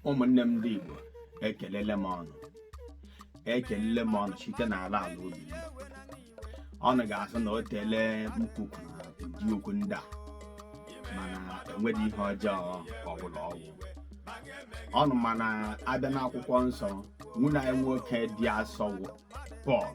ụmụnne m ndị Igbo ekelele m ụnụ ekelele m ụnụ site n'ala ala obi m. ụnụ ga-asị na o teele m kwu- kwuru ụdị okwu ndị a mana enweghị ihe ọjọọ ọbụla ọ wụ ụnụ ma na a bịa n'akwụkwọ nsọ nwanne anyị nwoke dị asọ wụ Pọl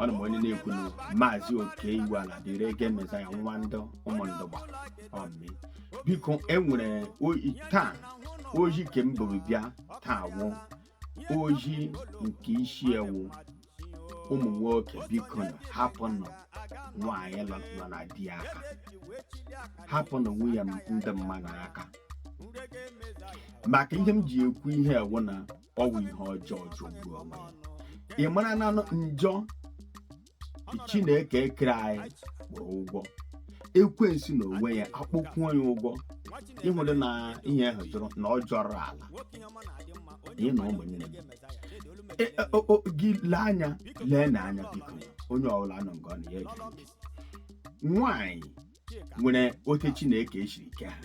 ụnụ ma onye na-ekwu na maazị Oke Iwuala dịrị ege mezaya nwa ndị Ụmụndụgba ọmị biko enwere ozi taa ozi ke m buru bịa taa wụ ozi nke isi ya wụ ụmụ nwoke bikonụ hapụnụ nwaanyị nọ nọ na di ya aka hapụnụ nwunye ndị mmadụ aka maka ihe m ji ekwu ihe a wụ na ọ bụ ihe ọjọọ jọgbuo onwe ya ị mara na njọ chineke kere anyị kpọrọ ụgwọ ekwensu n'onwe ya akpọkwuo ya ụgwọ ị hụrụ na ihe ahụ jọrọ na ọ jọrọ ala ihe na ụmụnne gị E, e, o- o- gị lee anya leenụ anya biko onye ọbụla nọ nga ọ nọ ya gee ntị. nwaanyị nwere ote chineke esiri ke ha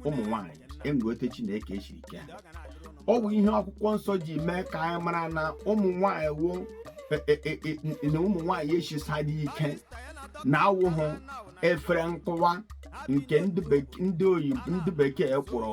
ụmụ nwaanyị enwere ote chineke esiri ke ha ọ bụ ihe akwụkwọ nsọ ji mee ka anyị mara na ụmụ nwaanyị wụ e- e- e- e- na ụmụ nwaanyị esisaghị ike na awụ ha efere nkụwa nke ndị bek- ndị oyibo ndị bekee kpọrọ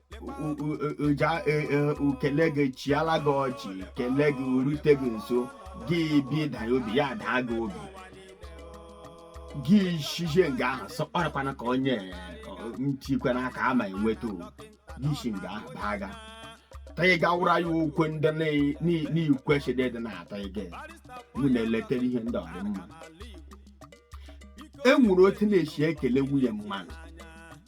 o kele gị chịala gị ọchị kele gị rute gị nso gị bi danye obi ya daa gị obi gị shizie nga ahụ sọkparakwana ka onye ntikwana ka ama enweta ị si nga ahụ baa ga taghị gawara ya okwu ndị n'ikwesịrị ịdị na-ataghị gị mụ na-eletere ihe ndị ọ dị mma e nwere otu na-esi ekele nwunye mmadụ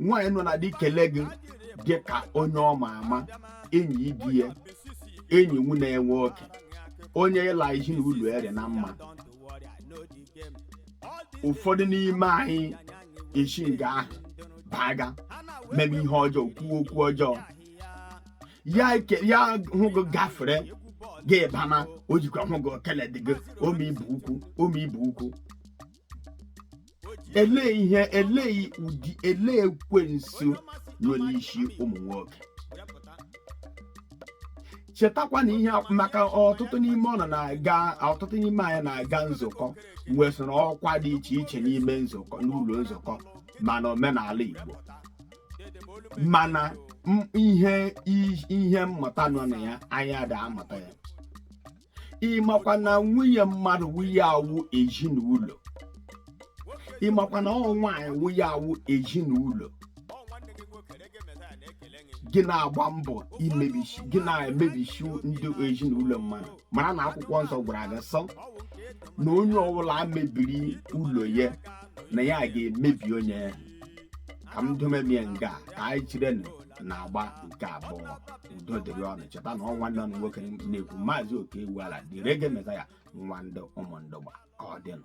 nwaanyị nọ na di kele gị dị ka onye ọ ma ama enyi ibe ya enyi nwanne ya nwoke onye ịla isi na ụlọ ere na mma ụfọdụ n'ime anyị esi nga ahụ baga mebe ihe ọjọọ kwuo okwu ọjọọ ya eke- ya hụ gị gafere gị bana o jikwa hụ gị o keledị gị ome ibu ukwu ome ibu ukwu elee ihe elee ụdị elee ekwensu nọ n'isi ụmụ nwoke chetakwa na ihe a- maka ọtụtụ n'ime ụnụ na-aga ọtụtụ n'ime anyị na-aga nzukọ nwesara ọkwa dị iche iche n'ime nzukọ n'ụlọ nzukọ mana omenala Igbo mana m- ihe i- ihe mmụta nọ na ya anyị ada amụta ya ịmakwa na nwunye mmadụ wụ ihe a wụ ezinụlọ ịmakwa na ọ nwaanyị wụ ihe a wụ ezinụlọ gị na-agba mbọ imebichi gị na-emebichi ndị ezinụlọ mmadụ mara na akwụkwọ nsọ gwara gị sị na onye ọbụla mebiri ụlọ ya na ya ga-emebi onye ahụ ka m domebie nga a, ka anyị cherenụ n'agba nke abụọ udo dịrị unu cheta na ọ nwanne unu nwoke na-ekwu maazị oke ewu ala the reggae messiah nwa ndị ụmụndugba ka ọ dịnụ